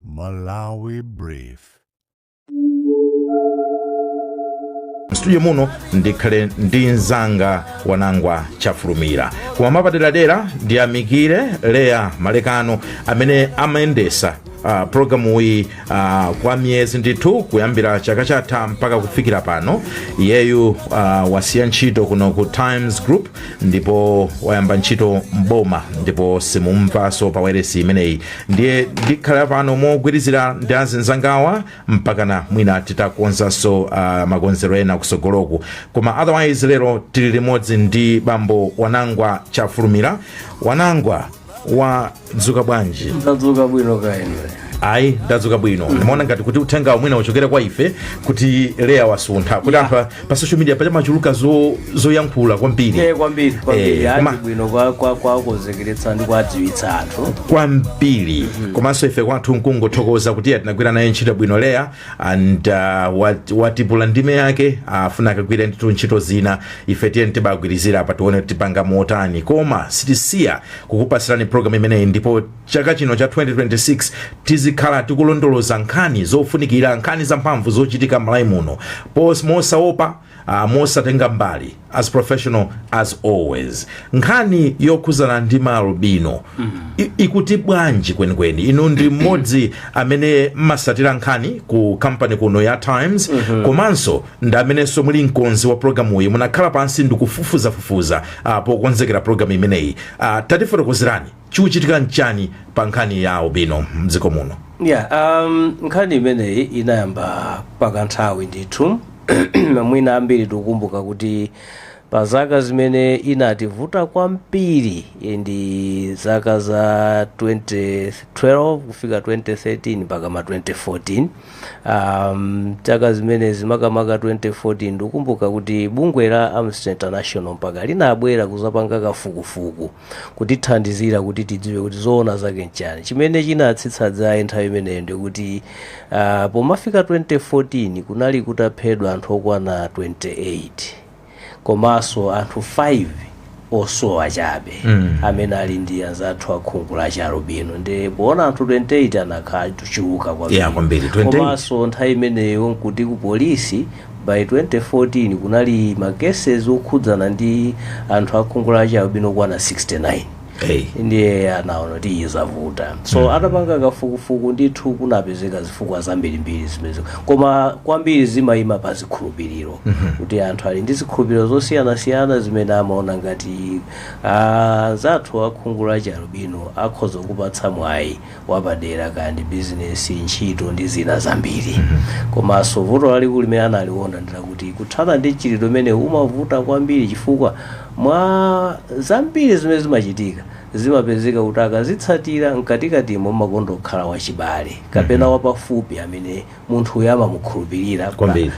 Malawi Brief. mstudio muno ndikhale ndi mzanga wanangwa chafulumira koma mwapaderadera ndiyamikire leya malekano amene amayendetsa Uh, programu iyi uh, kwa miyezi ndithu kuyambira chaka chatha mpaka kufikira pano iyeyu uh, wasiya ntchito kuno ku times group ndipo wayamba ntchito mboma ndipo simumumvanso pa wailesi imeneyi ndiye ndikhala pano mogwirizira ndi azinzangawa mpakana mwina titakonzanso uh, makonzedwe ena kusogoloku koma otherwise lero tili limodzi ndi bambo wanangwa chafulumira wanangwa wadzuka bwanji tadzuka bwino kaya inu ayi ndadzuka bwino ndimaona ngati kuti uthenga uwu mwina uchokere kwa ife kuti leya wasuntha kuti anthu a- pa social media paja pamachuluka zo- zoyankhula kwambiri Eh, kwambiri kwambiri Eh, koma- ndi bwino kwa- kwa- kuwakonzekeretsa ndi kuwadziwitsa anthu kwambiri komanso ife kwathu nkungothokoza kuti tinagwira naye ntchito bwino leya and uh, wat- watipula ndime yake akufuna akagwire ndithu ntchito zina ife tiyeni tibagwirizira apa tione kuti tipanga motani koma sitisiya kukupatsirani program imeneyi ndipo chaka chino cha 2026 tizikhala tikulondoloza nkhani zofunikira nkhani zamphamvu zochitika m'malawi muno mosaopa Ah, mosatenga mbali as professional as always nkhani yokhudzana ndi maalubino i- ikuti bwanji kwenikweni inu ndi mmodzi amene mmatsatira nkhani ku kampani kuno ya times komanso ndi amenenso muli mkonzi wa programu iyi munakhala pansi ndikufufuzafufuza ah, pokonzekera programu imeneyi Ah, tatifotokozerani chikuchitika nchani pa nkhani ya albino mdziko muno yeah um, nkhani imeneyi inayamba pakanthawi ndithu mwina ambiri tikukumbuka kuti pa zaka zimene inativuta kwambiri eh, ndi zaka za 2012 kufika 2013 mpaka ma 2014 um, zaka zimenezi makamaka 2014 ndikukumbuka kuti bungwe la amnesty international mpaka linabwera kuzapanga kafukufuku kutithandizira kuti tidziwe kuti zoona zake nchani chimene chinatsitsa dzaye nthawi imeneyo ndikuti uh, pomafika 2014 kunali kutaphedwa anthu okwana 28 komanso anthu 5 osowa chabe mm. amene ali ndi anzathu akhungu la chialubino ndiye poona anthu 28 anakhala achuluka Yeah, kwambiri, 28. komanso nthawi imeneyo nkuti ku polisi By 2014 kunali ma cases okhudzana ndi anthu akhungu la chialubino okwana 69 Hey. ndiye anaona kuti ayi zavuta so atapanga kafukufuku ndithu kunapezeka zifukwa zambirimbiri zimenezo koma kwambiri zimayima pa zikhulupiriro kuti anthu ali ndi zikhulupiriro zosiyanasiyana zimene amaona ngati anzathu akhungu la chialubino akhoza kuwapatsa mwayi wapadera kaya ndi business ntchito ndi zina zambiri komanso vuto lalikulu limene analiona ndi lakuti kuthana ndi mchitidwe umenewu umavuta kwambiri chifukwa mwa zambiri zimene zimachitika zimapezeka kuti akazitsatira mkatikatimo mumakonda kukhala wachibale kapena wapafupi amene munthu uyu amamukhulupirira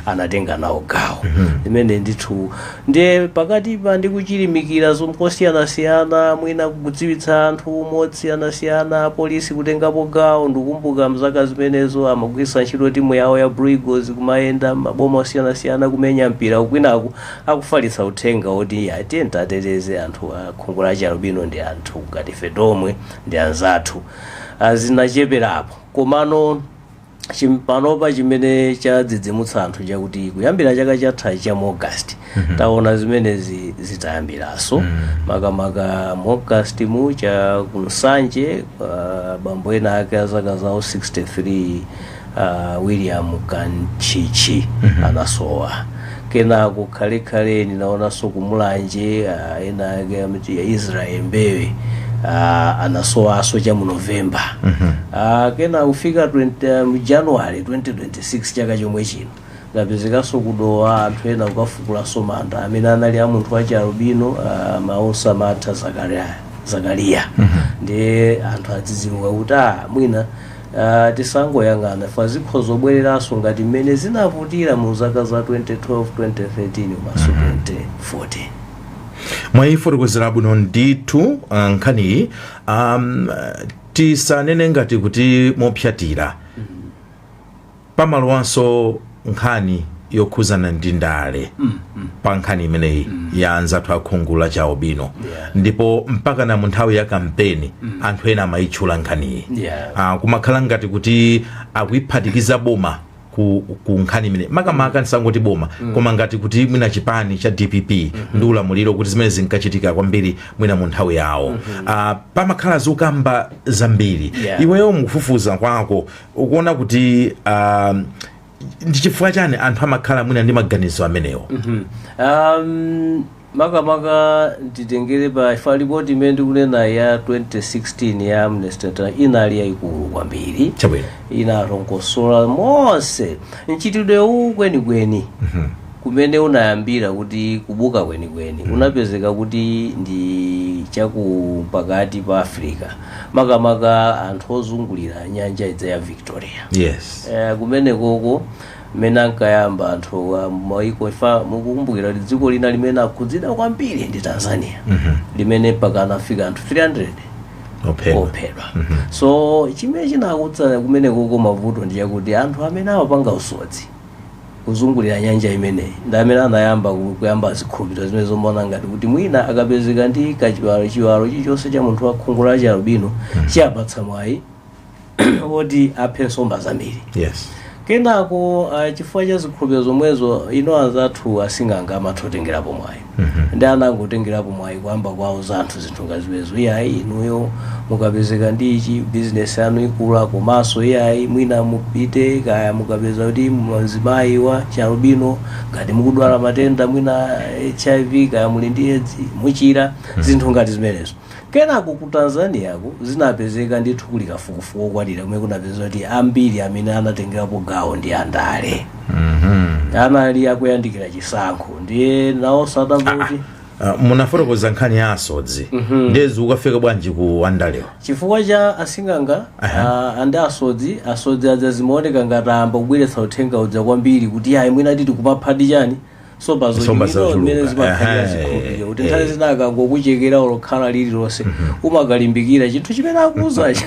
anatenga nawo gawo limene ndithu ndiye pakatipa ndi kuchilimikira zosiyanasiyana mwina kudziwitsa anthu mosiyanasiyana apolisi kutengapo gawo ndikumbuka m'zaka zimenezo amagwiritsa ntchito timu yawo ya Blue Eagles kumayenda maboma osiyanasiyana kumenya mpira kwinaku akufalitsa uthenga woti tiyeni titeteze anthu a khungu la chialubino ndi anthu ngati ife tomwe ndi anzathu Ah, zinacheperapo komano chim- panopa chimene chadzidzimutsa anthu chakuti kuyambira chaka chatha cha mu august taona zimenezi zitayambiranso makamaka mu august mu cha ku Nsanje ah, bambo ena ake a zaka zawo 63 ah, william kanchichi anasowa Kenako khalekhale ninaonanso ku Mulanje ah, ena ake amati a Israel Mbewe ah, anasowanso cha mu November Ah, kenako kufika 20, mu January 2026 chaka chomwe chino anapezekanso ku Dowa anthu ena kukafukulanso manda amene anali a munthu wachi albino ah, Mausa Martha Zakaria, Zakaria. ndiye anthu adzidzimuka kuti ah, mwina Aaa tisangoyang'ana chifukwa zikhoza kubwereranso ngati mmene zinavutira mu zaka za 2012, 2013 komanso 2014. Mwayifotokozera bwino ndithu nkhaniyi aam tisanene ngati kuti mopsatira. pamalowanso nkhani yokhuzana ndi ndale mm, mm. pa nkhani imeneyi mm. ya anzathu akhungu la chialubino yeah. ndipo mpakana munthawi ya kampeni mm. anthu ena amayitchula nkhaniyi yeah. uh, ah, kumakhala ngati kuti akuyiphatikiza boma ku, ku nkhani imeneyi makamaka mm. ndisangoti boma mm. koma ngati kuti mwina chipani cha dpp mm -hmm. ndi ulamuliro kuti zimenezi zinkachitika kwambiri mwina mu nthawi yawo mm -hmm. uh, pamakhala zokamba zambiri yeah. iweyo mukufufuza kwako ukuona kuti um, ndi chifukwa chani anthu amakhala mwina ndi maganizo amenewo um, makamaka nditengere pa ifa ripoti imene ndikunena ya 2016 ya amnesty International inali yayikulu kwambiri chabwino inalongosola monse mchitidwe uwu kwenikweni kumene unayambira kuti kubuka kwenikweni unapezeka kuti ndi cha kupakati pa africa makamaka anthu ozungulira nyanja ija ya victoria yes Eh, kumenekoko mmene ankayamba anthu a maiko ifa mukukumbukira kuti dziko lina limene akhudzidwa kwambiri ndi tanzania limene mpaka anafika anthu 300 ophedwa ophedwa so chimene chinakuza kumenekoko mavuto ndi chakuti anthu amene amapanga usodzi kuzungulira nyanja imeneyi ndi amene anayamba ku- kuyamba zikhulupiriro zimene zomaona ngati kuti mwina akapezeka ndi kachiwalo chiwalo chilichonse cha munthu wa khungu la chialubino chiwapatsa mwayi woti aphe nsomba zambiri yes kenako ah, chifukwa cha zikhulupiriro zomwezo ino anzathu asing'anga amatha kutengerapo mwayi ndi anangotengerapo mwayi kuyamba kuwauza anthu zinthu ngati zimenezo iyayi inuyo mukapezeka ndi ichi bizinesi yanu ikula komanso iyayi mwina mupite kaya mukapeza kuti mzimayi wa chalubino ngati mukudwala matenda mwina hiv kaya muli ndi edzi muchira zinthu ngati zimenezo Kenako ku Tanzaniako zinapezeka ndithu kuli kafukufuku okwanira kumene kunapezeka kuti ambiri amene anatengerapo gawo ndi andale anali akuyandikira chisankho ndiye nawonso atamva kuti Ah, munafotokoza nkhani ya asodzi ndiye zikukafika bwanji ku andalewo chifukwa cha asing'anga Aha. ah, ndi asodzi asodzi aja zimaoneka ngati ayamba kubweretsa uthenga uja kwambiri kuti ayi mwina titi kupaphadi chani nsomba Nsomba zochuluka zochuluka. mmene zimakhalira Ehe, zikhulupiriro kuti nthawi eh. zina akangokuchekera olo khala lililonse umakalimbikira chinthu chimene akuuzacho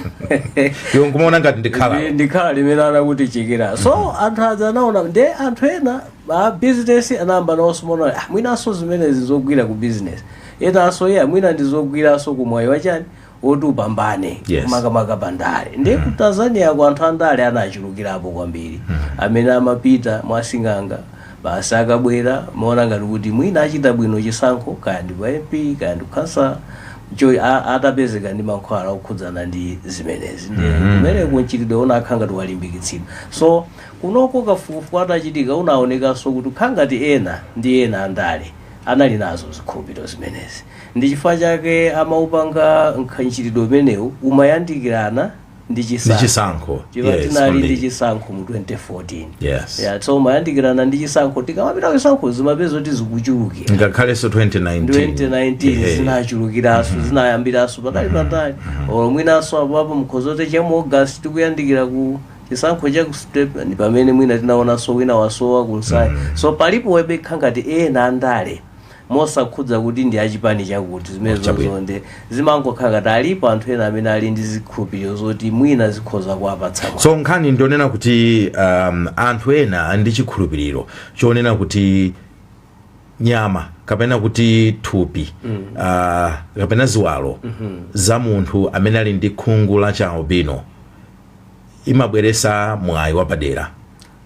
iwe nkumaona ngati ndi khala Ndi- ndi khala limene anakutichekera so anthu aja anaona nde anthu ena a business anayamba nawonso kumaona "Ah, mwinanso zimenezi zogwira ku business enanso iye mwina ndizogwiranso kumwayi wa chani woti upambane Yes. makamaka pa ndale ndiye ku tanzaniako anthu andale anachulukirapo kwambiri amene amapita mwasing'anga basi akabwera amaona ngati kuti mwina achita bwino chisankho kaya ndi kwa mp kaya ndi kukhansala a- atapezeka ndi mankhwala okhudzana ndi zimenezi ndiye kumeneko mchitidwe unakhala ngati walimbikitsidwa so kunoko kafukufuku atachitika unaonekanso kuti kukhala ngati ena ndi ena andale anali nazo zikhulupiriro zimenezi. Ndi chifukwa chake amaupanga nkha- mchitidwe umenewu umayandikirana ndi chisankho. Ndi chisankho. Chifukwa Yes, tinali ndi kwambiri. chisankho mu 2014. Yes. Yeah, so umayandikirana ndi chisankho tikamapita ku chisankho zimapezeka kuti zikuchuluka. ngakhalenso 2019 2019 Ehe. zinachulukiranso zinayambiranso patali patali or mwinanso apo apo mukhoza kuti cha mu august tikuyandikira ku chisankho cha kustep ndi pamene mwina tinaonanso wina wasowa kunsayi so palipo webekha ngati ena andale mosakhudza kuti ndi achipani chakuti zimene Chabwino. zozonde zimangokhala ngati alipo anthu ena amene ali ndi zikhulupiriro zoti mwina zikhoza kuwapatsa mwayi. so nkhani ndi yonena kuti um, anthu ena ali ndi chikhulupiriro chonena kuti nyama kapena kuti thupi mm. uh, kapena ziwalo mm -hmm. za munthu amene ali ndi khungu la cha albino imabweresa mwayi wapadera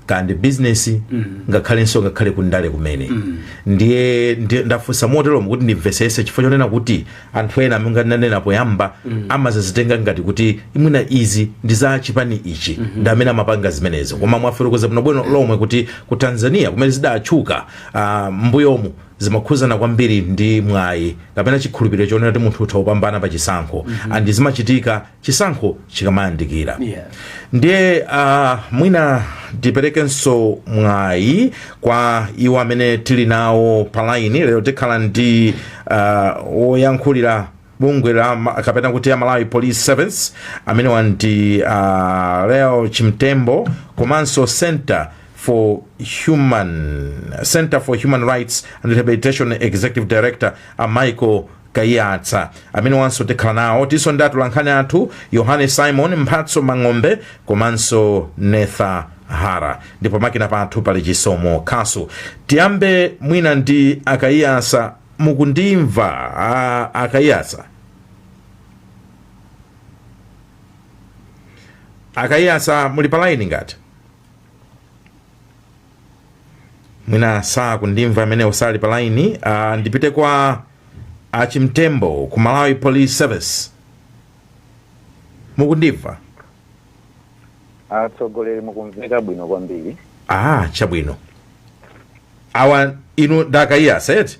kaya ndi bizinesi mm. ngakhalenso ngakhale kundale kumene mm. ndiye ndafunsa moteromo kuti ndimvesese chifukwa chonena kuti anthu ena amene ndinanena poyamba mm. amazitenga ngati kuti mwina izi ndi za chipani ichi mm -hmm. ndi amene amapanga zimenezo koma mwafotokoza bwinobwino lomwe kuti ku tanzania kumene zidatchuka uh, mbuyomu zimakhuzana kwambiri ndi mwayi kapena chikhulupiriro chonena kuti munthu utha kupambana pa chisankho mm -hmm. and zimachitika chisankho chikamayandikira Yeah. ndiye uh, mwina tiperekenso mwayi kwa iwo amene tili nawo palaini lero tikhala ndi uh, woyankhulira bungwe la ma- kapena kuti a malawi police service amenewa ndi uh, leo chimtembo komanso center for human center for human rights and rehabilitation executive director a michael kaiyatsa amenewanso tikhala nawo tinso ndi atolankhani athu yohane simon mphatso mang'ombe komanso netha hara ndipo makina pathu pali chisomo khasu tiyambe mwina ndi a kaiyatsa mukundimva a- a kaiyatsa a kaiyatsa muli pa laini ngati mwina sakundimva amene usali pa laini uh, ndipite kwa a chimtembo ku malawi police service mukundimva atsogoleri mukumveka bwino kwambiri ah chabwino awa inu dakaiya seti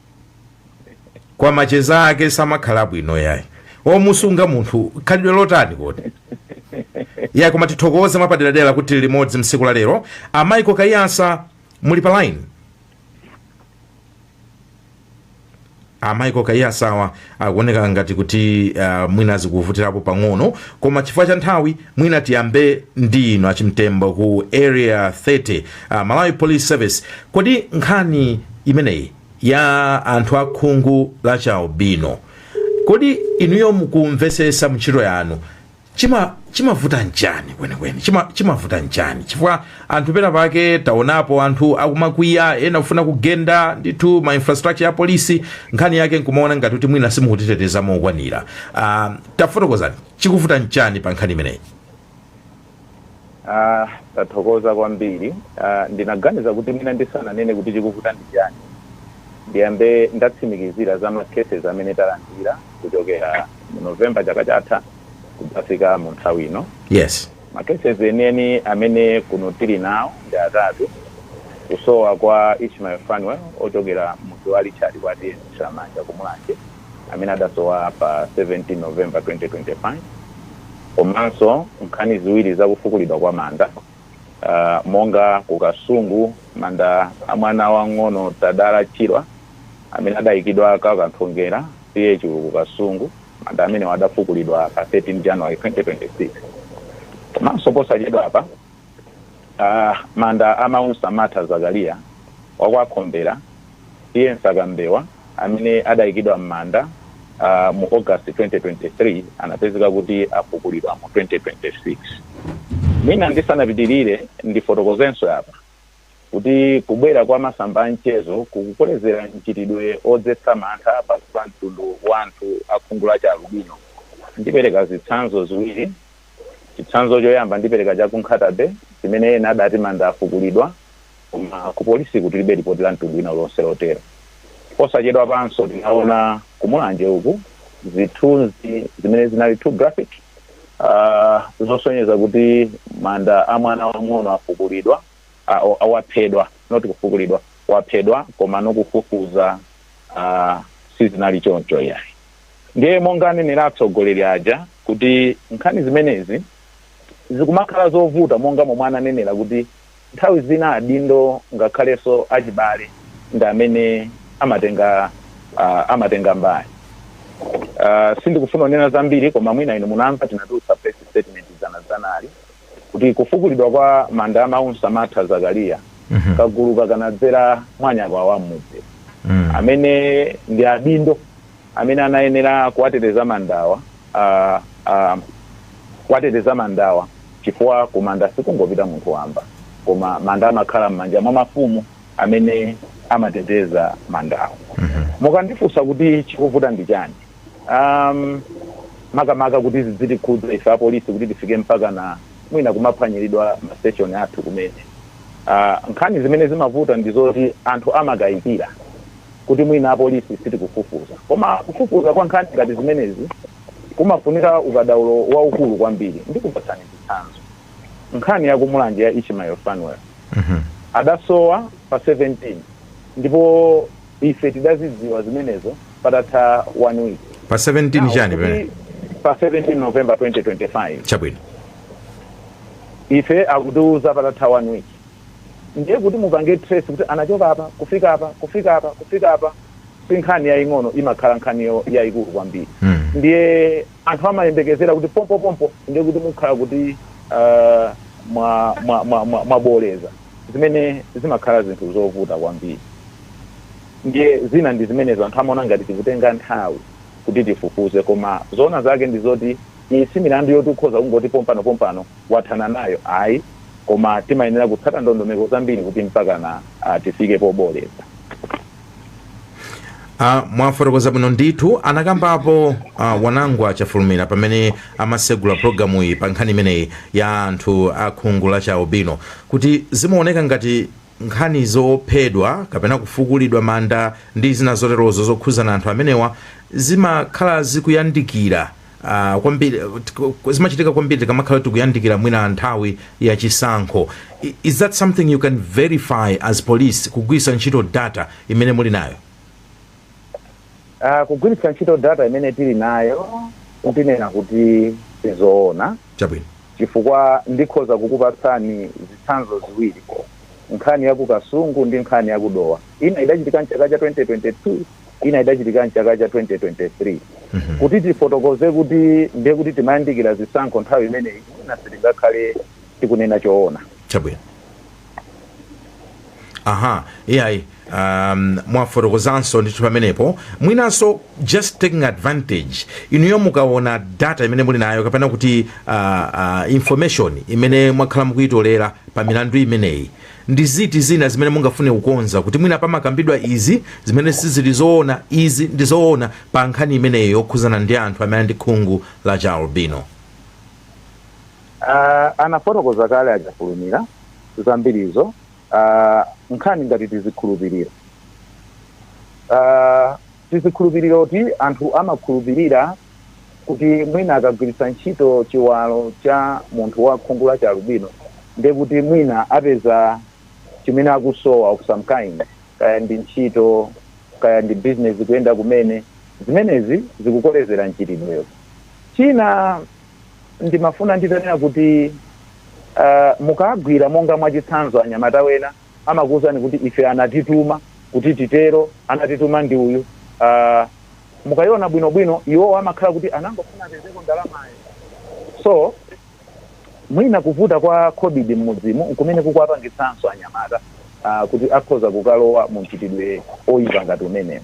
kwa macheza ake samakhala bwino yayi omusunga munthu khalidwe lotani kodi ya koma tithokoze mwapaderadera kuti tili limodzi msiku la lero a michael kaiyatsa muli pa line a michael kaiyatsawa akuoneka ngati kuti uh, mwina zikuvutirapo pang'ono koma chifukwa cha nthawi mwina tiyambe ndi inu a chimtembo ku area 30 uh, malawi police service kodi nkhani imeneyi ya anthu akhungu la chialubino kodi inuyo mukumvesesa mntchito yanu chimavuta nchani kwenikweni chimavuta nchani chifukwa anthu pena pake taonapo anthu akumakwiya ena kufuna kugenda ndithu ma infrastructure ya polisi nkhani yake nkumaona ngati kuti mwina simukutiteteza mokwanira uh, tafotokozani chikuvuta nchani pa nkhani imeneyi Aaa tathokoza kwambiri aaa ndinaganiza kuti mwina ndisananene kuti chikuvuta ndi chani ndiyambe ndatsimikizira za ma cases amene talandira kuchokera mu November chaka chatha kudzafika mu nthawi ino. Yes. Ma cases enieni amene kuno tili nawo ndi atatu, kusowa kwa Ishmael Fanuel ochokera m'mudzi wa Richard kwa TA Nthiramanja ku Mulanje, amene adasowa pa 17 November 2025 komanso nkhani ziwiri za kufukulidwa kwa manda uh, monga ku Kasungu manda a mwana wang'ono Tadala Chirwa amene adayikidwa kwa Kanthongera TA Chulu ku Kasungu manda amenewa adafukulidwa pa 13 January 2026 komanso posachedwapa Aaa manda a Maunsamatha Zakaliya wa kwa Khombera TA Msakambewa amene adaikidwa m'manda a mu August 2023 anapezeka kuti afukulidwa mu 2026. Mwina ndisanapitirire ndifotokozenso apa kuti kubwera kwa masamba a mchezo kukukolezera mchitidwe odzetsa mantha pakati pa mtundu wa anthu a khungu la chialubino. Ndipereka zitsanzo ziwiri. Chitsanzo choyamba ndipereka cha ku Nkhata-bay chimene ena adati manda afukulidwa koma ku polisiku tilibe lipoti la mtundu wina uliwonse lotero. Posachedwapanso tinaona ku Mulanje uku zithunzi zimene zinali too graphic zosonyeza kuti manda a mwana wamng'ono afukulidwa, waphedwa not kufukulidwa, waphedwa komano kufufuza sizinali choncho iyayi. Ndiye monga anenera atsogoleri aja kuti nkhani zimenezi zikumakhala zovuta monga momwe ananenera kuti nthawi zina adindo ngakhalenso achibale ndi amene amatenga uh, amatenga mbali uh, sindikufuna kunena zambiri koma mwina inu munamva tinatulutsa press statement dzana dzanali kuti kufukulidwa kwa manda a Maunsamatha Zakaria, kaguluka kanadzera mwa anyakwawa a m'mudzi amene ndi adindo amene anayenera kuwateteza mandawa ah, ah, kuwateteza mandawa chifukwa ku manda sikungopita munthu wamba koma manda amakhala m'manja mwa mafumu amene amateteza mandawa mukandifunsa kuti chikuvuta ndi chani um, makamaka kuti zidzitikhudza ife apolisi kuti tifike mpakana mwina kumaphwanyiridwa mastation athu kumene uh, nkhani zimene zimavuta ndi zoti anthu amakayikira kuti mwina apolisi sitikufufuza koma kufufuza kwa nkhani ngati zimenezi kumafunika ukadaulo waukulu kwambiri ndikupatsani chitsanzo nkhani ya ku Mulanje ya Ishmael Fanuel adasowa pa 17 ndipo Ife tidazidziwa zimenezo patatha 1 week. Pa 17 chani pamenepa? pa 17 November 2025 Chabwino. ife akutiuza patatha 1 week ndiye kuti mupange trace kuti anachoka apa kufika apa kufika apa kufika apa si nkhani yaying'ono imakhala nkhani yo- yayikulu kwambiri Mm. ndiye Anthu amayembekezera kuti pompopompo ndiye kuti mukhala kuti mwabooleza, zimene zimakhala zinthu zovuta kwambiri. Ndiye zina ndi zimenezo, anthu amaona ngati tikutenga nthawi kuti tifufuze. Koma zoona zake ndi zoti iyi si milandu yoti ukhoza kungoti pompanopompano wathana nayo ayi, koma timayenera kutsata ndondomeko zambiri kuti mpakana tifike pobooleza. Uh, mwafotokoza bwino ndithu anakambapo uh, Wanangwa Chafulumira pamene amasegula programu iyi pa nkhani imeneyi ya anthu a khungu la chialubino kuti zimaoneka ngati nkhani zophedwa kapena kufukulidwa manda ndi zina zoterozo zokhuzana anthu amenewa zimakhala zikuyandikira ah, kwambiri tk- zimachitika kwambiri tikamakhala tikuyandikira mwina nthawi ya chisankho I- is that something you can verify as police kugwiritsa ntchito data imene muli nayo Ah, kugwiritsa ntchito data imene tili nayo ndinena kuti si zoona chabwino chifukwa ndikhoza kukupatsani zitsanzo ziwiri nkhani ya ku Kasungu ndi nkhani ya ku Dowa ina idachitika mchaka cha 2022 ina idachitika m'chaka cha 2023 kuti tifotokoze kuti ndiye kuti timayandikira zisankho nthawi imeneyi mwina sitingakhale tikunena choona chabwino aha iyayi um, mwafotokozanso ndithu pamenepo mwinanso just taking advantage inuyo mukaona data imene muli nayo kapena kuti uh, uh, information imene mwakhala mukuyitolera pa milandu imeneyi Ndi ziti zina zimene mungafune kukonza kuti mwina pamakambidwa izi zimene sizili zoona, izi ndi zoona pa nkhani imeneyo yokhuzana ndi anthu amene ali ndi khungu la chi albino? Aaa anafotokoza kale a Chafulumira zambirizo aaa nkhani ngati tizikhulupiliro aaa tizikhulupiliroti anthu amakhulupilira kuti mwina akagwiritsa ntchito chiwalo cha munthu wa khungu la chialubino ndiye kuti mwina apeza chimene akusowa of some kind kaya ndi ntchito kaya ndi business kuyenda kumene zimenezi zikukolezera mchitidwewo china ndimafuna nditanena kuti uh, mukagwira monga mwachitsanzo anyamata wena amakuwuzani kuti ife anatituma kuti titero anatituma ndi uyu uh, mukaiona bwino bwino iwowo amakhala kuti anangofuna apezeko ndalamayo so mwina kuvuta kwa khobidi mmudzimu nkumene kukuwapangitsanso anyamata ah, kuti akhoza kukalowa mu mchitidwe oyipa ngati umenewu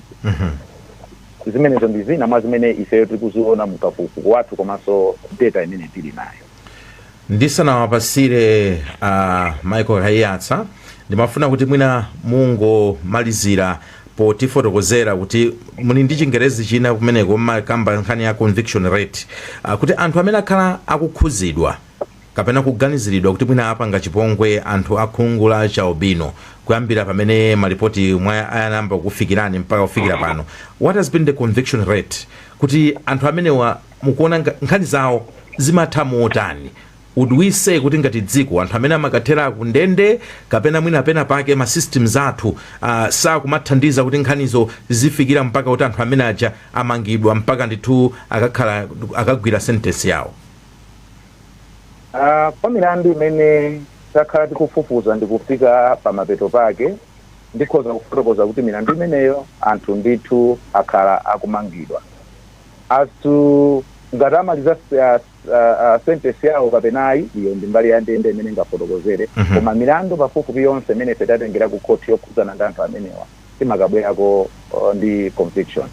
zimenezo ndi zina mwa zimene ifeyo tikuziona mkafukufuku wathu komanso data imene tili nayo ndisanawapasire a michael kaiyatsa ndimafuna kuti mwina mungomalizira potifotokozera kuti muli ndi chingerezi china kumeneko mmakamba nkhani ya conviction rate ah, kuti anthu amene akhala akukhuzidwa kapena kuganiziridwa kuti mwina apanga chipongwe anthu akhungu la chalubino kuyambira pamene malipoti anayamba kufikirani mpaka kufikira pano what has been the conviction rate kuti anthu amenewa mukuona nga, nkhani zawo zimatha motani would we say kuti ngati dziko anthu amene amakathera ku ndende kapena mwina pena pake ma systems athu uh, sakumathandiza kuti nkhanizo zifikira mpaka kuti anthu amene aja amangidwa mpaka ndithu akakhala akagwira sentence yawo Ah, pa milandu imene takhala tikufufuza ndi kufika pa mapeto pake ndikhoza kufotokoza kuti milandu imeneyo anthu ndithu akhala akumangidwa as to ngati amaliza s- ah, s- ah, ah, sentence yawo kapena ayi iyo ndi mbali ya ndende imene ingafotokozere Mhm. koma milandu pafupifupi yonse imene ife tatengera ku khoti yokhudzana ndi anthu amenewa timakabwerako oh, ndi conviction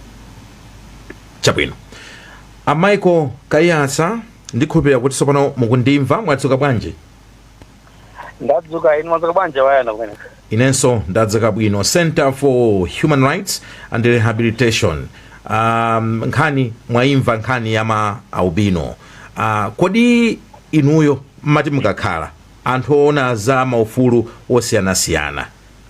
chabwino a michael kaiyatsa ndikhulupirira kuti tsopano mukundimva mwadzuka bwanji ndadzuka inu mwadzuka bwanji wayana kumene inenso ndadzuka bwino center for human rights and rehabilitation um, nkhani mwayimva nkhani ya ma albino uh, kodi inuyo mmati mukakhala anthu oona za maufulu osiyanasiyana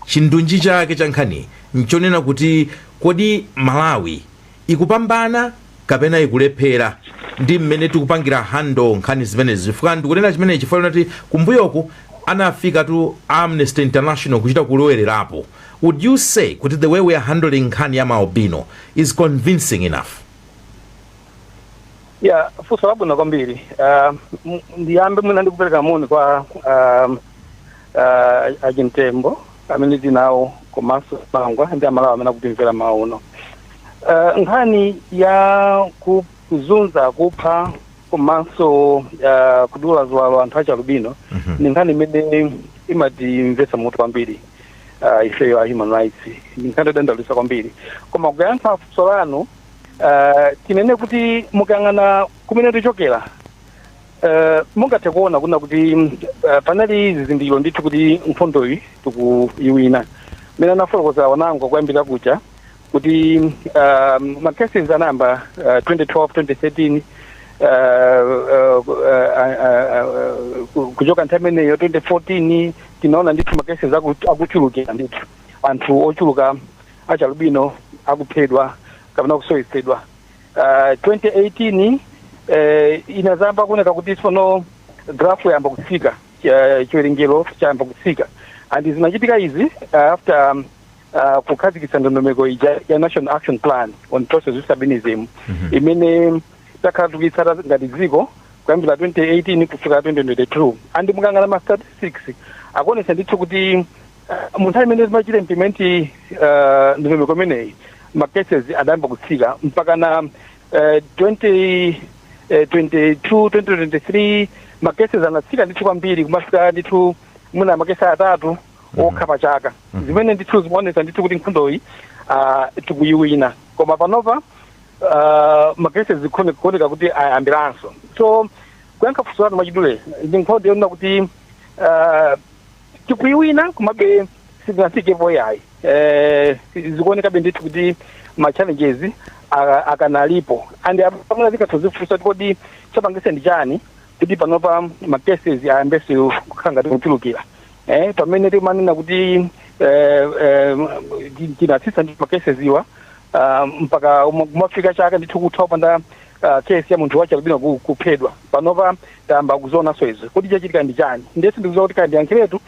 chindunji chake cha nkhani nchonena kuti kodi malawi ikupambana kapena ikulephera ndi mmene tikupangira handle nkhani zimenezi chifukwa ndikunena chimenechi chifukwa linati kumbuyoku anafikatu a amnesty international kuchita kulowererapo would you say kuti the way we are handling nkhani ya maalbino is convincing enough ya funso labwino kwambiri Ah, m- ndiyambe mwina ndikupereka moni kwa ah, uh, a chimtembo amene tinawo komanso pangwa ndi amalawi amene akutimvera mmawa uno uh, nkhani ya kuzunza kupha komanso uh, kudula ziwalo anthu achalubino Mhm. ni nkhani imene imatimvetsa mutu kwambiri uh, ifeyo a human rights ni nkhani yodandaulitsa kwambiri koma kuyankha funso lanu uh, tinene kuti mukayang'ana kumene tichokera Eh, mungathe kuona kuna kuti eh, panali zizindikiro ndithu kuti nkhondoyi tikuyiwina mmene anafotokozera anzanga kuyambira kuja kuti um, ma cases anayamba uh, 2012 2013 uh, uh, uh, uh, uh, kuchoka nthawi imeneyo 2014 tinaona ndithu ma cases aku- akuchulukira ndithu anthu ochuluka achialubino akuphedwa kapena kusowetsedwa Uh, 2018 eh, inadzayamba kuoneka kuti tsono graph yayamba kutsika eh, chiwerengero chayamba kutsika and zinachitika izi uh, after um, uh, kukhazikitsa ndondomeko ija ya national action plan on persons with albinism imene takhala tikuyitsata ngati dziko kuyambira 2018 kufika 2022 and mukayang'ana ma statistics akuonetsa ndithu kuti mu nthawi imene timachita implement uh, ndondomeko imeneyi ma cases adayamba kutsika mpaka na uh, 20 eh, 22 2023 ma cases anatsika ndithu kwambiri kumafika ndithu muna makesi atatu okha pa chaka zimene ndithu zimaonetsa ndithu kuti nkhondoyi uh, tikuyiwina koma panopa uh, ma cases zikuone kuoneka kuti ayambiranso so kuyankha funso lanu mwachidule ndi nkhondo yonena kuti uh, tikuiwina komabe sitinafikepo yayi eh, zikuonekabe ndithu kuti ma challenges a- akanalipo and pamene tikutha kudzifunsa kuti kodi chapangitsa ndi chani kuti panopa ma cases ayambenso kukhala ngati kuchulukira eh, pamene timanena kuti eh, eh, ti- tinatsitsa ndi ma cases awa ah, mpaka uma- kumafika chaka ndithu kutha kupanda ah, case ya munthu wachialubino ku- kuphedwa panopa tayamba kuzionanso izo kuti chachitika ndi chani ndiye sindikudziwa kuti kaya ndiyankhiretu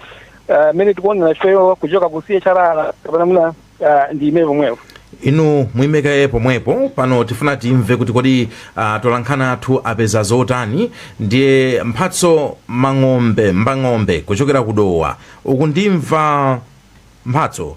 ah, mmene tikuonera ifeyo kuchoka ku CHRR kapena mwina ah, ndiime pomwepo inu muimekaye pomwepo pano tifuna timve kuti kodi uh, atolankhani athu apeza zotani ndiye Mphatso Mang'ombe Mbang'ombe kuchokera ku Dowa ukundimva Mphatso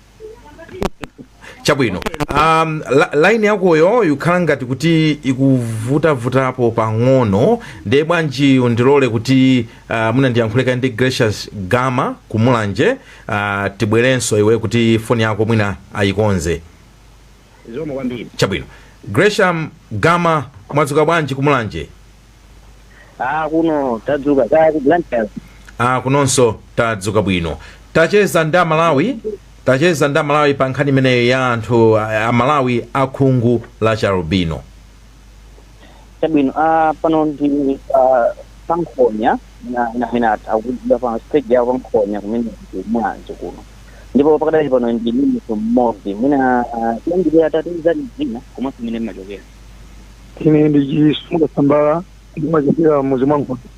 chabwino um, la, line yakoyo ikukhala ngati kuti ikuvutavutapo pang'ono ndiye bwanji undilole kuti uh, mwina ndiyankhuleko ndi Gracious Gama ku Mulanje uh, tibwererenso iwe kuti foni yako mwina ayikonze Zikomo kwambiri. Chabwino. Gracious Gama, mwadzuka bwanji ku Mulanje? Ah, kuno tadzuka kaya ku Blantyre. Ah, kunonso tadzuka bwino. Tacheza ndi Amalawi, tacheza ndi Amalawi pa nkhani imeneyo ya anthu a- Amalawi akhungu la chialubino. chabwino ah, pano ndi ah, pankhonya na- na- ina akudya pa stage yawo pankhonya kumene kumwanzo kuno ndipo pakadali pano ndili ndi munthu mmodzi mwina ah, tiyambire atatiuza dzina komanso kumene amachokera ine ndi chisumuka sambala ndimachokera mudzi mwa nkhondo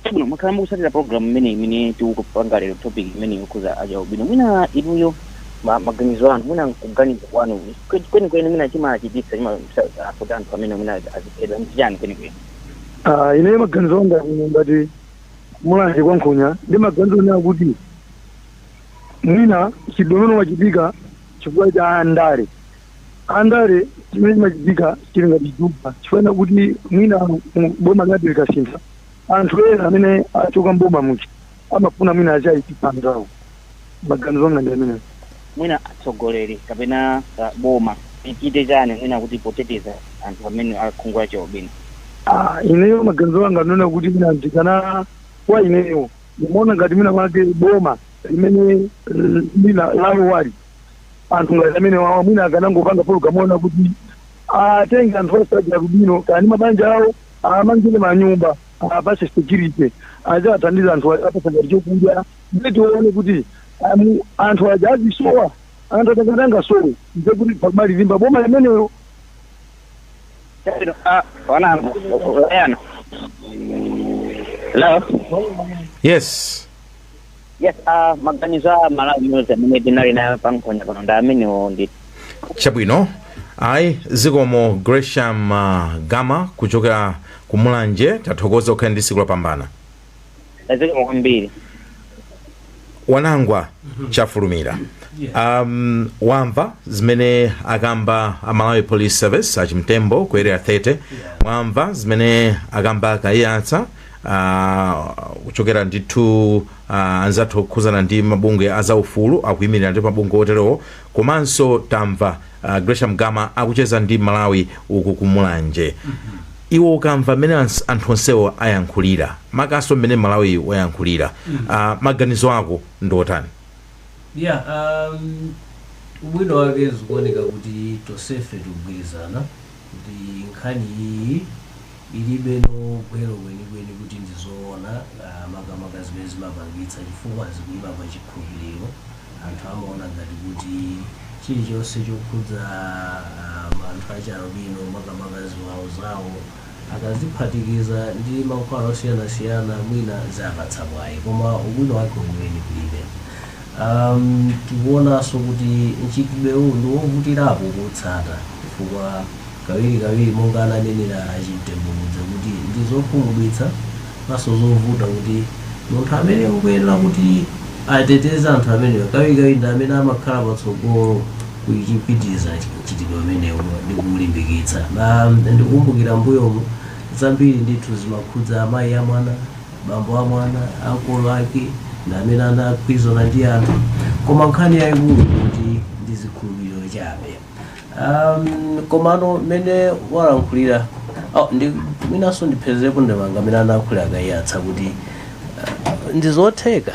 chabwino mwakhala mukutsatira program imene imene tikupanga lero topic imene yokhuza achialubino mwina inuyo ma- maganizo anu mwina kuganiza kwanu kwe- kwenikweni mwina chimachititsa kuti anthu amene mwina aziphedwa ndi chiyani kwenikweni Ah, ineyo maganizo anga kuno ngati mulanje kwa nkhonya ndi maganizo onena kuti mwina mchitidwe umenewo wachitika chifukwa cha andale andale chimene chimachitika chili ngati juba chifukwa kuti mwina mu- boma linati likasintha anthu ena amene achoka mboma muja amafuna mwina adzaipitse anzawo maganizo anga ndi amenewo mwina atsogoleri kapena ah, boma lichite chiyani mwina kuti poteteza anthu amene akhungu lachialubino Ah, ineyo maganizo anga ndi onena kuti mwina ndikaona kwa ineyo ndimaona ngati mwina mwake boma limene eh, lina lalowali anthu ngati amenewa mwina akanangopanga pologamu yonena kuti atenge anthu onse achialubino kaya ndi mabanja awo awamangire manyumba awapatse security aziwathandiza anthu aja, awapatsa ngati chokudya ndiye tione kuti um, anthu aja azisowa anthu angati angasowe ndiye kuti pamali limba boma limenelo Ah, wanangwa yana hello yes Yes, ah, maganizo a mmalawi amene tinali naye pa nkhonya pano ndi amenewo ndi chabwino ayi zikomo gresham uh, gama kuchokera ku mulanje tathokoza mukhale ndi tsiku lopambana zikomo kwambiri wanangwa chafulumira um, wamva zimene akamba a malawi police service achimtembo ku area 30 mwamva zimene akamba akayatsa uh, kuchokera ndithu uh, anzathu okhuzana ndi mabungwe a zaufulu akuyimirira ndithu mabungwe oterewo komanso tamva uh, gresham gama akucheza ndi mmalawi uku kumulanje iwe ukamva mmene ans- anthu onsewo ayankhulira makamakanso mmene mmalawi wayankhulira uh, maganizo ako ndi otani yeah um, ubwino wake zikuoneka kuti tonsefe tikugwirizana kuti nkhani iyiyi ilibe gwero kwenikweni kuti ndi zoona ah, makamaka zimene zimapangitsa chifukwa zikuima pa chikhulupiriro anthu amaona ngati kuti chilichonse chokhudza ah, ma- anthu achialubino makamaka ziwalo zawo akaziphatikiza ndi mankhwala osiyanasiyana mwina ziwapatsa mwayi koma ubwino wake weniweni kulibe Umm, tikuonanso kuti mchitidwewu ndi wovutirapo kuutsata chifukwa kawirikawiri monga ananenera a Chimtembamudza kuti ndi zokhumudwitsa komanso zovuta kuti munthu amene akuyenera kuti ateteze anthu amenewa kawirikawiri ndi amene amakhala patsogolo kuchipitiriza mchitidwe umenewu ndi kuulimbikitsa. Umm, ndikukumbukira m'mbuyomu zambiri ndithu zimakhudza amayi a mwana. bambo a mwana ankolo ake ndi amene anagwirizana ndi anthu koma nkhani yayikulu kuti ndi zikhulupiriro chabe um, komano mmene walankhulira oh, ndi mwinanso ndipherepo ndemanga mmene anayankhulira a Kayiyatsa kuti uh, ndi zotheka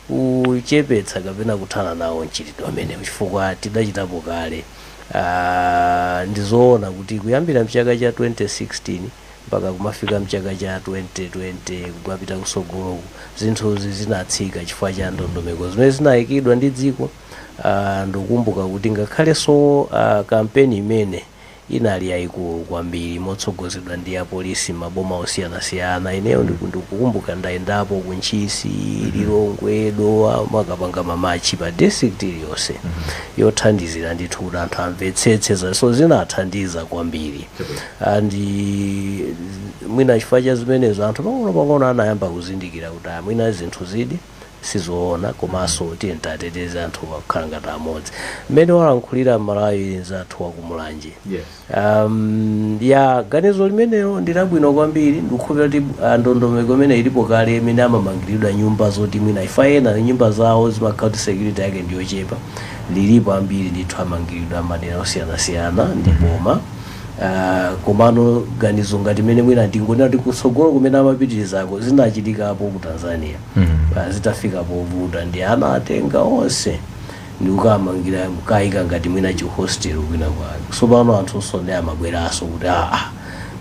kuchepetsa kapena kuthana nawo mchitidwe umenewu chifukwa tidachitapo kale uh, ndi zoona kuti kuyambira mchaka cha 2016 mpaka kumafika mchaka cha 2020 kumapita kusogoloku zinthuzi zinatsika chifukwa cha ndondomeko zimene zinayikidwa ndi dziko uh, ndikukumbuka kuti ngakhalenso uh, kampeni imene inali yayikulu kwambiri motsogozedwa ndi apolisi maboma osiyanasiyana ineyo ndiku- ndikukumbuka ndayendapo ku ntchisi lilongwe dowa kumakapanga mamachi pa district iliyonse yothandizira ndithu kuti anthu amvetsetse za- so zinathandiza kwambiri and mwina chifukwa cha zimenezo anthu pang'ono pang'ono anayamba kuzindikira kuti ah, mwina zinthuzidi sizoona komanso tiyeni titeteze anthu akhale ngati amodzi mmene walankhulira mmalawi nzathu wakumulanje Yes. um, ya ganizo limenelo ndilabwino kwambiri ndikukhulupira kuti ah, ndondomeko imene ilipo kale imene amamangiridwa nyumba zoti mwina chifukwa ena nyumba zawo zimakhala kuti security yake ndiyochepa lilipo ambiri ndithu amangilidwa madera osiyanasiyana ndi boma Ah, komano ganizo ngati mene mwina ndingonena kuti kutsogolo kumene amapitirizako zinachitikapo ku tanzania Mm. Ah, zitafika povuta ndi anawatenga onse ndikukamangira kukayika ngati mwina chihostel kwina kwake tsopano anthu osonde amabweranso kuti aa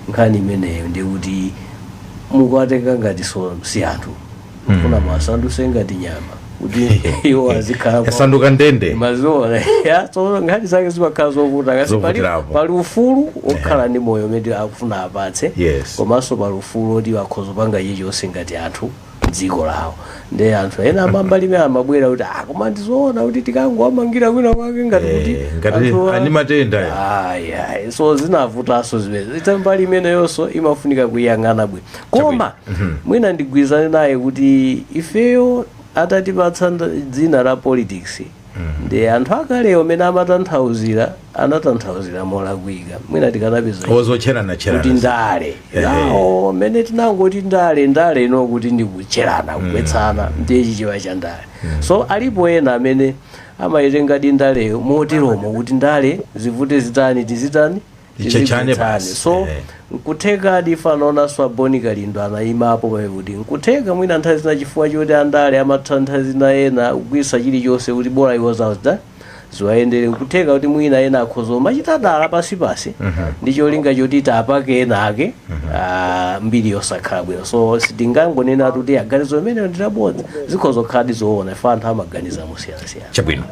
nkhani imeneyo ndikuti mukuwatenga ngati si anthu kufuna muwasanduse ngati nyama kuti iwo azikhala pa- yasanduka ndende mazola ya so nkhani zake zimakhala zovuta kasi pali, Zovutirapo. pali ufulu okhala ndi moyo umene akufuna awapatse Yes. komanso pali ufulu oti akhoza kupanga chilichonse ngati anthu mdziko lawo ndi anthu ena a mbali imene amabwera kuti ah koma ndizoona kuti tikangowamangira kwina kwake ngati kuti Eh, ngati anthu a- ali matenda ya. Ayi, ayi. so zinavutanso zimenezi mbali imeneyonso imafunika kuiyang'ana bwino koma mwina ndigwirizane naye kuti ifeyo atatipatsa dzina la politics ndi anthu akalewo amene amatanthauzira anatanthauzira molakwika mwina tikanapeza ichi. ozotcherana kuti tcherana ndale Ehe. yawo mmene tinangoti ndale ndale ino kuti ndikutcherana kugwetsana ndiye chichewa cha ndale so alipo ena amene amayitengadi ndaleyo moteromo kuti ndale zivute zitani tizitani Litchetchane Tilivetsane. basi. so Eh. nkutheka difa lola swaboni kalindo anaimapo pakuti nkutheka mwina nthawi zina chifukwa choti andale amatha nthawi zina ena kugwirisa chilichonse kuti bola iwo zawo ziwayendere nkutheka kuti mwina ena akhoza umachita dala pasipasi ndi cholinga choti tapake ena ake ah, mbiri yosakhala bwino so sitingangonena kuti maganizo amenewo ndi abodza zikhoza kukhaladi zoona ife anthu amaganiza mosiyanasiyana chabwino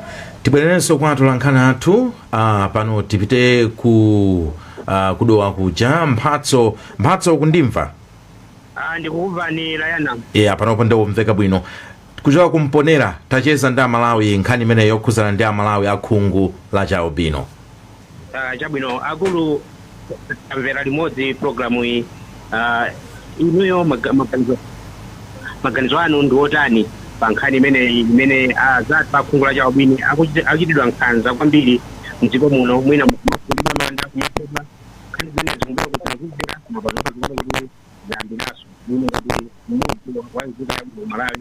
tibwererenso kwa atolankhani athu Ah, pano tipite ku ah, kudowa kuja mphatso mphatso kundimva Ah, ndikukumvani layana yeah, panopo ndikumveka bwino kuchoka ku Mponela tacheza ndi amalawi nkhani imene yokhuzana ndi amalawi akhungu la chialubino Ah, chabwino akulu tamvera limodzi programu iyi Ah, inuyo maga- maganizo maganizo anu ndi otani pa nkhani imeneyi imene azathu akhungu la chialubino akuchiti- akuchitidwa nkhanza kwambiri mdziko muno mwina kumafukulidwa manda kumaphedwa nkhani zimene zikumbira kuti zinazizira koma pazokha zikuoneka kuti zayambiraso muno kuti mmodzi wa nzika ya malawi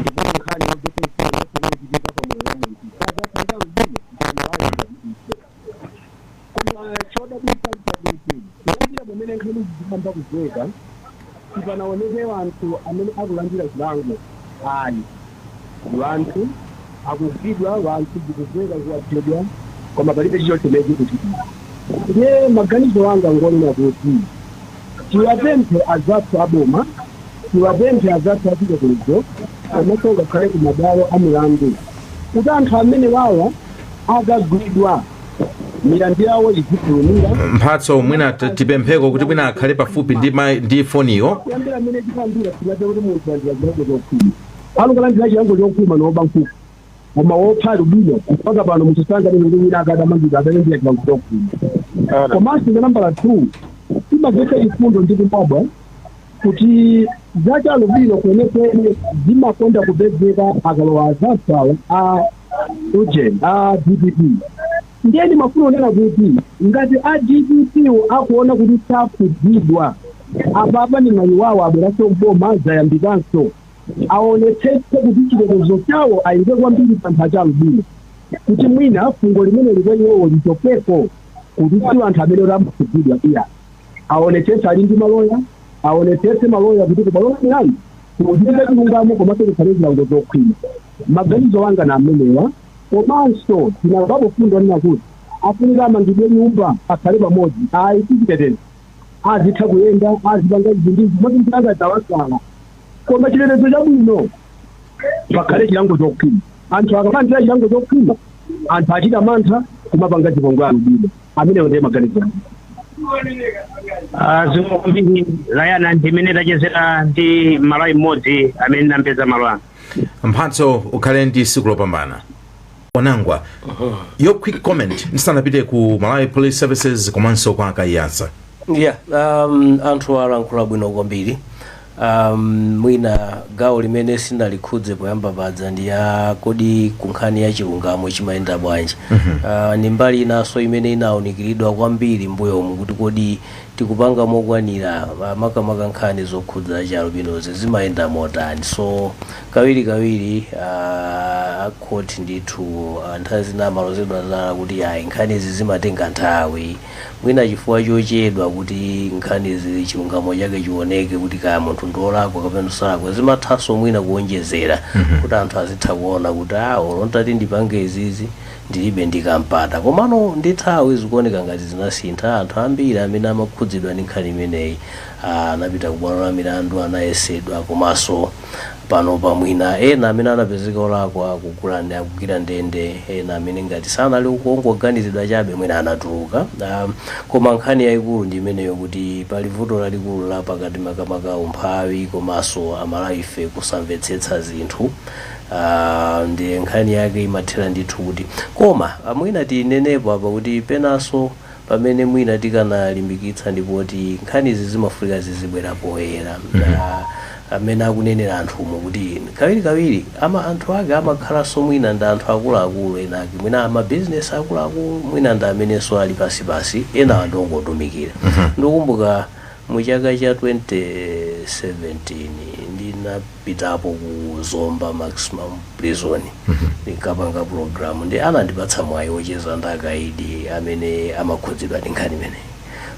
Ndipo nkhani ya zozizwitsa zimene zinachitika pa moyo wa munthu sadzafunika uzimu kuti ayiwale ngati ife. Koma chodabwitsa nchakuti kuyambira pamene nkhanizi zidayamba kumveka, sipanaoneke anthu amene akulandira chilango ayi. Anthu. akugwidwa wanthu zikumveka kuti aphedwa koma palibe chilichonse chimene chikuchitika ndiye maganizo anga ngonena kuti tiwapemphe azathu aboma tiwapemphe azathu achitetezo komaso ngakhale kumabwalo amilandu kuti anthu amenewawa akagwidwa milandu yawo izifulumira Mphatso mwina t- tipempheko kuti mwina akhale pafupi ndi, ma- ndi foniyo kuyambira mmene chiyambire sitinamve kuti munthu walandira chilango chokhwima Pano akulandira chilango chokhwima ndi oba nkhuku. Koma wopha alubino mpaka pano munthu sanganene kuti wina akadamangidwa adalandira chilango chokhwima. Komanso cha nambala 2, chimamvetsa chifundo ndi kudabwa kuti za chialubino kwenekwene zimakonda kupezeka akalowa azathuwa a ujeni, a dpp. Ndiye ndimafuna kunena kuti ngati a dpp wo akuona kuti sakukhudzidwa, apapa ndi mwayi wawo abweranso m'boma, zayambikanso. aonetsetse kuti chitetezo chawo ayike kwambiri pa anthu achialubino kuti mwina fungo limeneli kwa iwowo lichokeko kuti si anthu amene oti amakhudzidwa iyayi aonetsetse ali ndi maloya aonetsetse maloya kuti kubwalo la milandu kuchitike chilungamo komanso kukhale zilango zokhwima maganizo anga ndi amenewa komanso tinamvapo fundo ina kuti afunika amangidwe nyumba akhale pamodzi ayi si chitetezo azitha kuyenda azipanga izi ndi izi moti anzake adzawasala koma chitetezo chabwino pakhale chilango chokhwima anthu akalandira chilango chokhwima anthu achita mantha kumapanga zipongwe alubino amenewo ndiye maganizo anga. Ah, zikomo kwambiri layana ndimene tachezera ndi Mmalawi mmodzi amene ndinampeza malo ano mphatso ukhale ndi tsiku lopambana wanangwa your quick comment ndisanapite ku malawi police services komanso kwa kaiyasa yeah um, anthu alankhula bwino kwambiri um, mwina gawo limene sindinalikhudze poyamba paja ndi ya kodi kunkhani ya chilungamo chimayenda bwanji uh, ni mbali inanso imene inaunikiridwa kwambiri mbuyomu kuti kodi tikupanga mokwanira uh, makamaka nkhani zokhudza chialubinozi zimayenda motani so Kawirikawiri a court ndithu nthawi zina amalozedwa zala kuti ayi nkhanizi zimatenga nthawi, mwina chifukwa chochedwa kuti nkhanizi chilungamo chake chioneke kuti kaya munthu ndi olakwa kapena salakwa zimathanso mwina kuonjezera kuti anthu azitha kuona kuti a olo nditati ndipange izizi ndilibe ndi ka mpata komano ndi nthawi zikuoneka ngati zinasintha anthu ambiri amene amakhudzidwa ndi nkhani imeneyi anapita ku bwalo la milandu anayesedwa komanso Panopa mwina ena amene anapezeka olakwa akugwira ndende, ena amene ngati sanali ongoganizidwa chabe mwina anatuluka. A, koma nkhani yaikulu ndi imeneyo kuti pali vuto lalikulu la pakati makamaka umphawi komanso Amalawife kusamvetsetsa zinthu. A, ndiye nkhani yake imathera ndithu kuti, koma mwina tinenepo apa kuti penanso pamene mwina tikanalimbikitsa ndi poti nkhanizi zimafunika zizibwera poyera amene akunenera anthumo kuti kawirikawiri ama anthu ake amakhalanso mwina ndi anthu akuluakulu enaake mwina amabizinesi akuluakulu mwina ndi amenenso ali pasipasi enawa ndi ongotumikira ndikumbuka Mu chaka cha 2017 ndinapitapo ku Zomba Maximum Prison ndinkapanga program ndi anandipatsa mwayi wocheza ndi akaidi amene amakhudzidwa ndi nkhani imeneyi.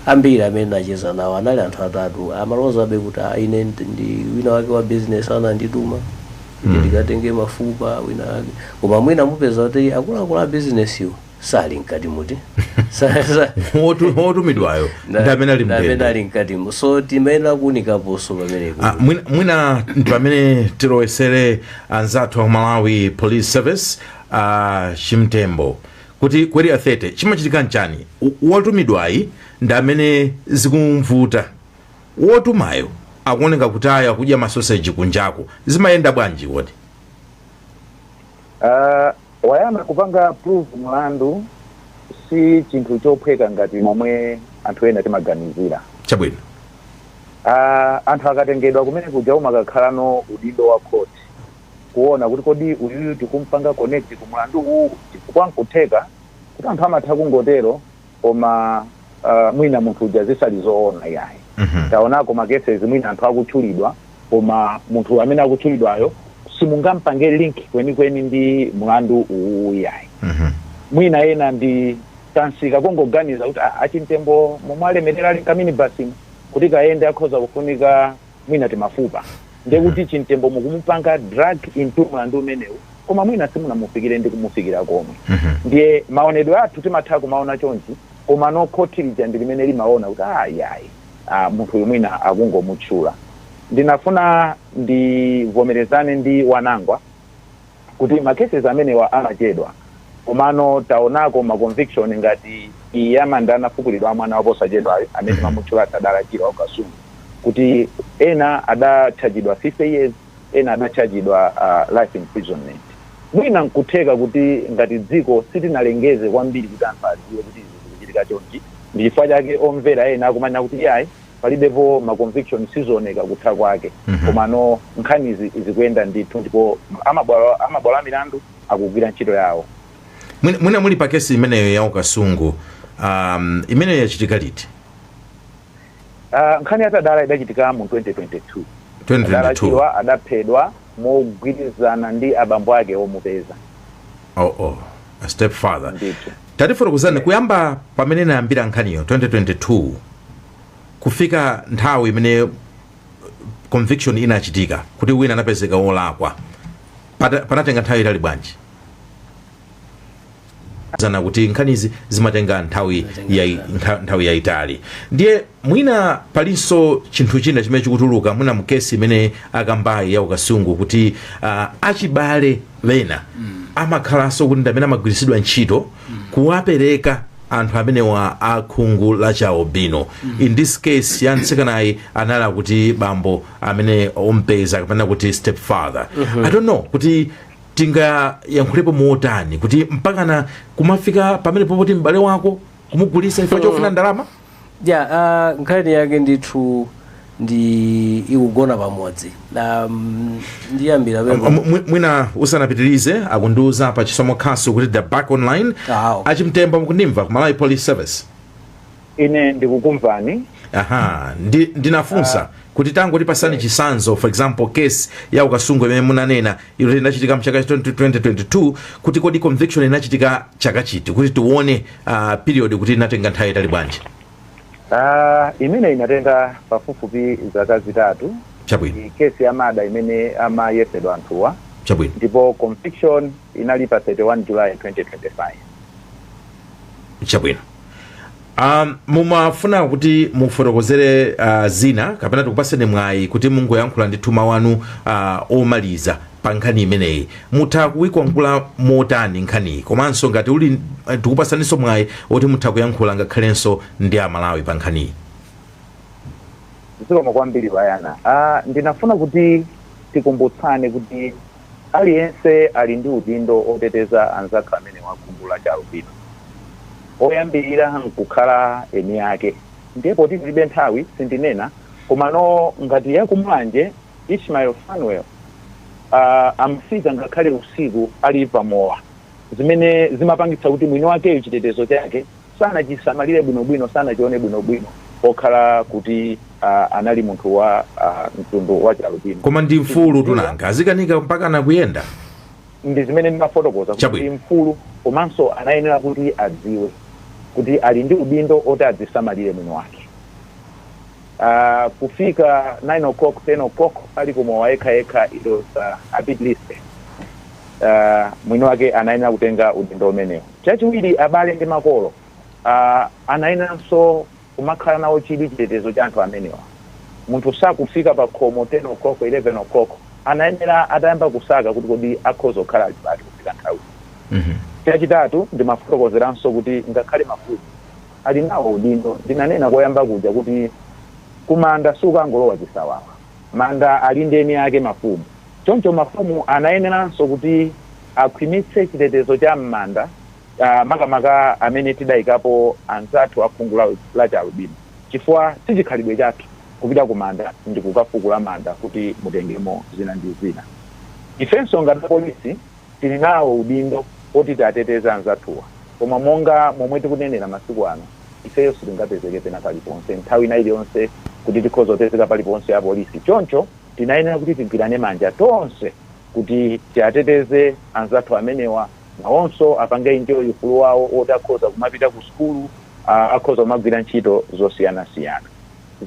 Ambiri amene ndinacheza nawo anali anthu atatu amalozabe kuti "Ah, ine ndi- ndi wina wake wa business anandituma ine ndikatenge mafupa wina wake koma mwina mupeza kuti akuluakulu a businesswo sali mkati muti Sa- sa- Wotu- wotumidwayo na- ndi amene ali mndende ali mkati mu so timayenera kuunikaponso pamenepo Ah, mwina- mwina ndi pamene tilowesere anzathu a malawi police service a chimtembo kuti ku area 30 chimachitika nchani W- wotumidwayi ndi amene zikumvuta wotumayo akuoneka kuti awa akudya masoseji kunjako zimayenda bwanji kodi Ah, Wayamba kupanga prove mulandu si chinthu chophweka ngati momwe anthu ena timaganizira. Chabwino. Aaa anthu akatengedwa kumene kuja umakakhala ndi udindo wa court kuona kuti kodi uyuyu tikumpanga connect ku mulandu uwu chifukwa nkutheka kuti anthu amatha kungotero koma aah mwina munthu uja zisali zoona iyayi. Taonako ma cases mwina anthu akutchulidwa Koma munthu amene akutchulidwayo simungampange link kwenikweni ndi mlandu uwuwu iyayi. Mwina ena ndi kansika kongoganiza kuti ah a Chimtembo momwe alemereramu nkaminibasimu kuti kayende akhoza kufunika mwina timafupa ndekuti Chimtembo mukumupanga drag into mlandu umenewu koma mwina simunamufikire ndi kumufikira komwe. Ndiye maonedwe athu timatha kumaona chonchi komano khoti lija ndi limene limaona kuti ah iyayi. a, munthu uyu mwina akungomutchula. Ndinafuna ndivomerezane ndi Wanangwa kuti ma cases amenewa amachedwa, komano taonako ma conviction ngati iyi ya manda anafukulidwa a mwana wa posachedwayu amene mwamutchula Tadala Chirwa wa ku Kasungu kuti ena adatchajidwa 50 years, ena adatchajidwa a life imprisonment. Mwina n'kutheka kuti ngati dziko sitinalengeze kwambiri kuti anthu adziwe kuti izi zikuchitika chonchi, ndi chifukwa chake omvera ena akumanena kuti iyayi, palibepo ma conviction, sizooneka kutha kwake. Komano nkhanizi zikuyenda ndithu ndipo amabwalo a milandu akugwira ntchito yawo. Mwina, mwina muli pa kesi imeneyo ya ku Kasungu, um, imeneyo yachitika liti? Uh, nkhani ya Tadala idachitika mu 2022 Tadala Chirwa adaphedwa mogwirizana ndi abambo ake omupeza oh, oh. A step father tatifotokozani kuyamba pamene inayambira nkhaniyo 2022 kufika nthawi imene conviction inachitika kuti wina anapezeka wolakwa panatenga nthawi yaitali bwanji zana kuti nkhanizi zimatenga nthawi yai- ntha- nthawi yayitali ndiye mwina palinso chinthu china chimene chikutuluka mwina mkesi imene akambayi ya ku Kasungu kuti ah, achibale ena amakhalanso kuti ndamene amagwiritsidwa ntchito kuwapereka anthu amenewa a khungu la chialubino in this case ya mtsikanayu anali akuti bambo amene ompeza kapena kuti step father i don't know kuti tingayankhulepo motani kuti mpakana kumafika pamene popoti m'bale wako kumugulisa chifukwa chofuna ndalama ya uh, nkhani yake ndithu ndi ikugona pamodzi um, ndiyambira pemene M- mwi- mwina usanapitirize akundiuza pa chisomo khasu kuti the back online Ah, okay. a Chimtembo mukundimva ku malawi police service ine ndikukumvani aha ndi, ndinafunsa uh, kuti tangotipasani yes. chisanzo for example case ya ku Kasungu imene munanena ija inachitika mchaka 2022 kuti kodi conviction inachitika chaka chiti kuti tione uh, period kuti inatenga nthawi yaitali bwanji uh, imene inatenga pafupifupi zaka zitatu chabwino kesi ya murder imene amayesedwa anthuwa chabwino ndipo conviction inali pa 31 july 2025 chabwino um, mumafuna kuti mufotokozere uh, zina kapena tikupaseni mwayi kuti mungoyankhula ndithu mawu anu uh, omaliza pa nkhani imeneyi mutha kuikwangula motani nkhaniyi komanso ngati ali eh, tikupasaninso mwayi oti mutha kuyankhula ngakhalenso ndi amalawi pa nkhaniyi zikomo kwambiri bayana ah, ndinafuna kuti tikumbutsane kuti Aliyense ali ndi udindo oteteza anzake amene wa khungu la chialubino. Oyambirira nkukhala eni ake ndiye poti tilibe nthawi sindinena komano ngati ya ku Mulanje Ishmael Fanuel aah amafika ngakhale usiku ali pa mowa zimene zimapangitsa kuti mwini wakeyo chitetezo chake sanachisamalire bwinobwino, sanachione bwinobwino pokhala kuti uh, anali munthu wa uh, mtundu wa chialubino. koma ndi mfulutu nanga azikanika mpakana kuyenda ndi zimene ndimafotokoza kuti Chabwino. ndi mfulu komanso anayenera kuti adziwe kuti ali ndi udindo oti adzisamalire mwini wake uh, kufika 9 o'clock 10 o'clock ali kumowa yekha yekha it was uh, a bit risky uh, mwini wake anayenera kutenga udindo umenewu Chachiwiri, abale ndi makolo anayeneranso kumakhala nawo chidwi chitetezo cha anthu amenewa. Munthu sakufika pakhomo 10:00, 11:00. Anayenera atayamba kusaka kuti kodi akhoza kukhala ali pati kufika nthawiyi. Chachitatu, ndimafotokozeranso kuti ngakhale mafumu ali nawo udindo. Ndinanena koyamba kuja kuti kumanda sukangolowa chisawawa. Manda ali ndi eni ake, mafumu. Choncho mafumu anayeneranso kuti akhwimitse chitetezo cha m'manda makamaka amene tidaikapo anzathu a khungu lachialubino chifukwa si chikhalidwe chathu kupita kumanda ndi kukafukula manda kuti mutengemo zina ndi zina. Ifenso ngati apolisi tili nawo udindo woti tiwateteze anzathuwa koma monga momwe tikunenera masiku ano, ifeyo sitingapezeke pena paliponse nthawi ina iliyonse kuti tikhoza kupezeka paliponse apolisi choncho. tinayenera kuti tigwirane manja tonse kuti tiateteze anzathu amenewa, nawonso apange enjoy ufulu wawo woti akhoza kumapita kusukulu, a, akhoza kumagwira ntchito zosiyanasiyana.